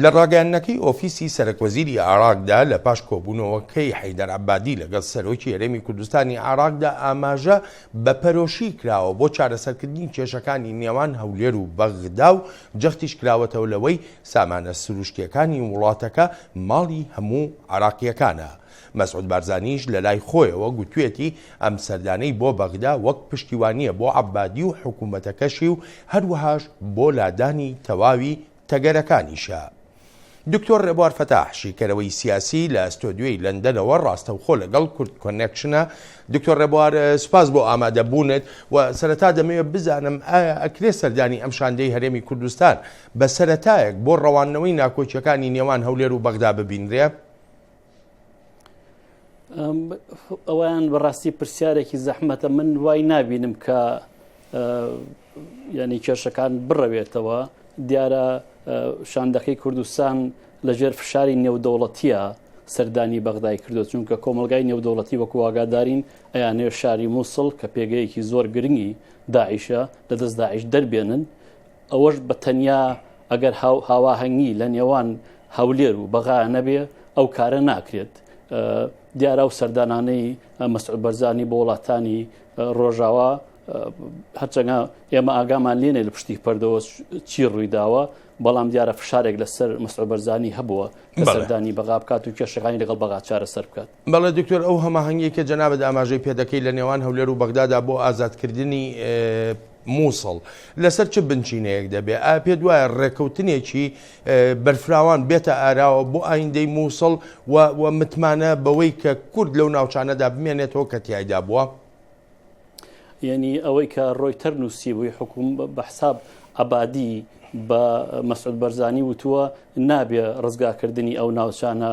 لە ڕاگەیاندنەکەی ئۆفیسی سەرەک وەزیری عێراقدا لە پاش کۆبوونەوەکەی حەیدەر عەبادی لەگەڵ سەرۆکی هەرێمی کوردستانی عێراقدا ئاماژە بە پەرۆشی کراوە بۆ چارەسەرکردنی کێشەکانی نێوان هەولێر و بەغدا و جەختیش کراوەتەوە لەوەی سامانە سروشتیەکانی وڵاتەکە ماڵی هەموو عێراقیەکانە مەسعود بارزانیش لەلای خۆیەوە گوتویەتی ئەم سەردانەی بۆ بەغدا وەک پشتیوانییە بۆ عەبادی و حکومەتەکەشی و هەروەهاش بۆ لادانی تەواوی تەگەرەکانیشە. دکتۆر رێبوار فەتاح شیکەرەوەی سیاسی لە ستۆدیۆی لەندەنەوە راستەوخۆ لەگەڵ کورد کۆنێکشنە. دکتۆر رێبوار سپاس بۆ ئامادە بوونت و سەرەتا دەمەوێت بزانم ئایا ئەکرێ سەردانی ئەم شاندەی هەرێمی کوردستان بە سەرەتایەک بۆ ڕەواندنەوەی ناکۆکیەکانی نێوان هەولێر و بەغدا ببینرێ؟ ئەویان بەڕاستی پرسیارێکی زەحمەتە من وای نبینم کە ینی کێشەکان بڕەوێتەوە دیارە شاندەکەی کوردستان لەژێر فشاری نێودەوڵەتیە سەردانی بەغدای کردو چونکە کۆمەلگای نێودەوڵەتی وەکو واگادارین ئەیانێ شاری مووسڵ کە پێگەیەکی زۆر گرنگی داعیشە لە دەست داعش دەربێنن ئەوەش بە تەنیا ئەگەر هاواهەنگی لە نێوان هەولێر و بەغا نەبێ ئەو کارە ناکرێت. دیارا و سەردانانەی مەسعود بەرزانی بۆ وڵاتانی ڕۆژاوا هەرچەنگە ئێمە ئاگامان لێنێ لە پشتی پەردەوە چی ڕوویداوە بەڵام دیارە فشارێک لەسەر مەسعود بەرزانی هەبووە کە سەردانی بەغا بکات و کێشەکانی لەگەڵ بەغا چارەسەر بکات. بەڵێ دکتۆر ئەو هەماهەنگیەی کە جەنابت ئاماژەی پێدەکەی لە نێوان هەولێر و بەغدادا بۆ ئازادکردنی مووسڵ لەسەر چ بنچینەیەک دەبێ ئا پێ دوایە ڕێکەوتنێکی بەرفراوان بێتە ئاراوە بۆ ئایندەی مووسڵ و متمانە بەوەی کە کورد لەو ناوچانەدا بمێنێتەوە کە تایدا بووە. یعنی ئەوەی کە ڕۆیتەر نووسی بووی حکوم بە حساب عبادی بە مەسعود بەرزانی وتووە نابێ ڕزگاکردنی ئەو ناوچانە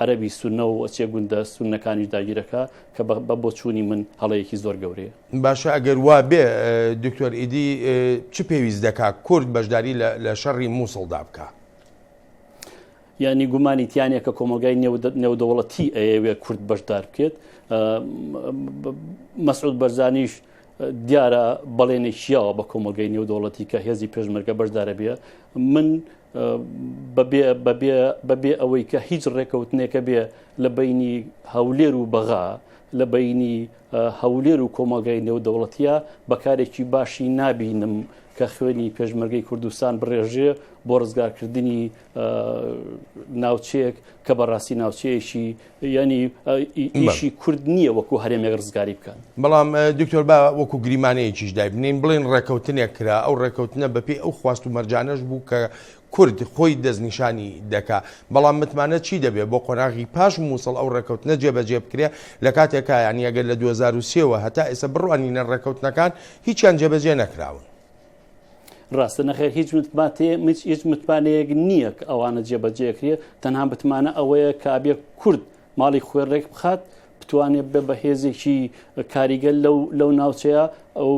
عەرەبی سونەو ئەچێ گوندە سونەکانیش داگیرەکا کە بە بۆ چوونی من هەڵەیەکی زۆر گەورەیە. باشە ئەگەر وا بێ دکتۆر ئیدی چ پێویست دەکا کورد بەشداری لە شەڕی مووسڵ دا بکا؟ یانی گومانی تیانە کە کۆمەلگای نێودەوڵەتی ئەیەوێ کورد بەشدار بکێت مەسعود بەرزانیش دیارە بەڵێنێک یاوە بە کۆمەلگەی نێودەوڵەتی کە هێزی پێشمەرگە بەشدارە بێ من بەبێ ئەوەی کە هیچ ڕێکەوتنێکە بێ لە بینی هەولێر و بەغا لە بینی هەولێر و کۆمەلگای نێودەوڵەتیە بەکارێکی باشی نابینم کە خوێنی پێشمەرگەی کوردستان بڕێژێ بۆ ڕزگارکردنی ناوچەیەک کە بەڕاستی ناوچەیەکی ینی ئیشی کورد نییە وەکو هەرێمێک ڕزگاری بکەن بەڵام دکتۆر با وەکو گریمانەیەکیش دای بنین بڵێن ڕێککەوتنێک کرا ئەو ڕێککەوتنە بەپی ئەو خواست و مەرجانەش بوو کە کورد خۆی دەستنیشانی دەکا بەڵام متمانە چی دەبێت بۆ قۆناغی پاش مووسڵ ئەو ڕێککەوتنە جێبەجێ بکرێ لە کاتێکا یانیەگەر لە 2023ەوە هەتا ئێستا بڕوانینە ڕێککەوتنەکان هیچیان جێبەجێ نەکراون. ڕاستە نەخێر هیچ متباتێ هیچ متمانەیەک نییە کە ئەوانە جێبەجێکرێت تەنها بتمانە ئەوەیە کە ئابێ کورد ماڵی خوێ ڕێک بخات بتوانێت بە بەهێزێکی کاریگەل لەو لەو ناوچەیە ئەو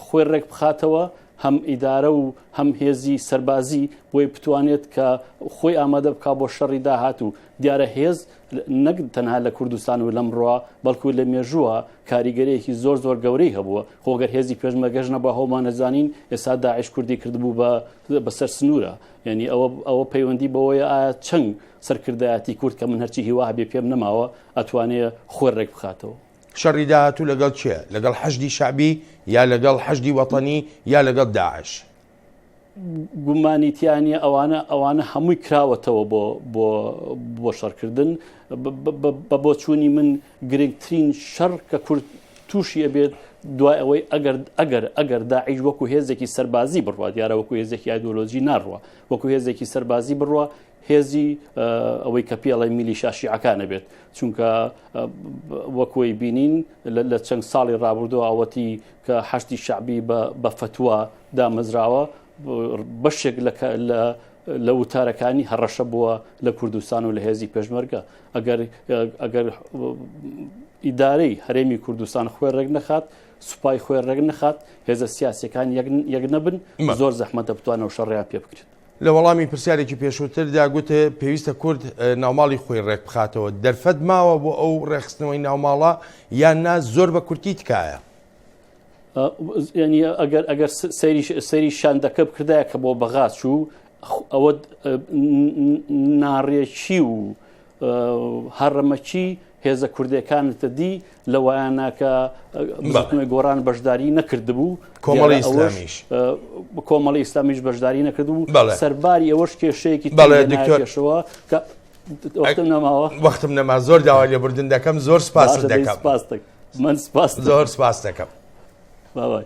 خوێ ڕێک بخاتەوە هەم ئیدارە و هەم هێزی سەربازی بۆی بتوانێت کە خۆی ئامادە بک بۆ شەڕی داهات و دیارە هێز نەک تەنها لە کوردستان و لەمڕوا بەڵکو لە مێژووە کاریگەرەیەکی زۆر زۆر گەورەی هەبووە خۆگەر هێزی پێشمەگەش نەبە هەومانەزانین ئێستا داعش کوردی کردبوو بە بەسەر سنوورە یعنی ئەوە ئەوە پەیوەندی بەوەیە ئایا چەند سەرکردایەتی کورد کە من هەرچی هیوا هەبێ پێم نەماوە ئەتوانێ خۆر ڕێک بخاتەوە شەڕی داهاتوو لەگەڵ چێ لەگەڵ حەشدی شعبی یا لەگەڵ حەشدی وەتەنی یا لەگەڵ داعش گومانی تیانە ئەوانە ئەوانە هەمووی کراوەتەوە بۆ بۆ بۆ شەڕکردن بە بۆچوونی من گرنگترین شەڕ کە کورد تووشی ئەبێت دوای ئەوەی ئەگەر ئەگەر ئەگەر داعیش وەکو هێزێکی سەربازی بڕوات دیارە وەکو هێزێکی ئایدۆلۆژی ناڕوە وەکو هێزێکی سەربازی بڕوە هێزی ئەوەی کە پێڵی میلی شاشیعەکانە بێت چونکە وەکۆی بینین لە چەند ساڵی ڕابردووە ئەوەتی کە حەشتی شعبی بە فتووە دامەزراوە بەشێک لە وتارەکانی هەڕەشە بووە لە کوردستان و لە هێزی پێشمەرگە ئەگەر ئیدارەی هەرێمی کوردستان خوێ ڕێک نەخات سوپای خوێ ڕێک نەخات هێزە سیاسەکان یەک نەبن زۆر زەحمەتە بتوانەوە شەڕیان پێ بکرێت لە وەڵامی پرسیارێکی پێشووتردا گوتێ پێویستە کورد ناوماڵی خۆی ڕێک بخاتەوە دەرفەت ماوە بۆ ئەو ڕێخستنەوەی ناوماڵە یان نا زۆر بە کورتی تکایە ئەگەر ئەگەر سەری شاندەکە بکردایە کە بۆ بەغا چوو ئەوە ناڕێکی و هەڕەمەکی هێزە کوردەکانتە دی لە وایانناکە بەڵێ گۆران بەشداری نەکردبوو کۆمەڵی ئیسلامیش کۆمەڵی ئیسلامیش بەشداری نەکردبوو سەرباری ئەوەش کێشەیەکی بەڵێ دکتۆرشەوە کە وەختم نەماوە وەختم نەما زۆر داوا لێبوردن دەکەم زۆر سپاس دەکەم من سپاس زۆر سپاس دەکەم باوای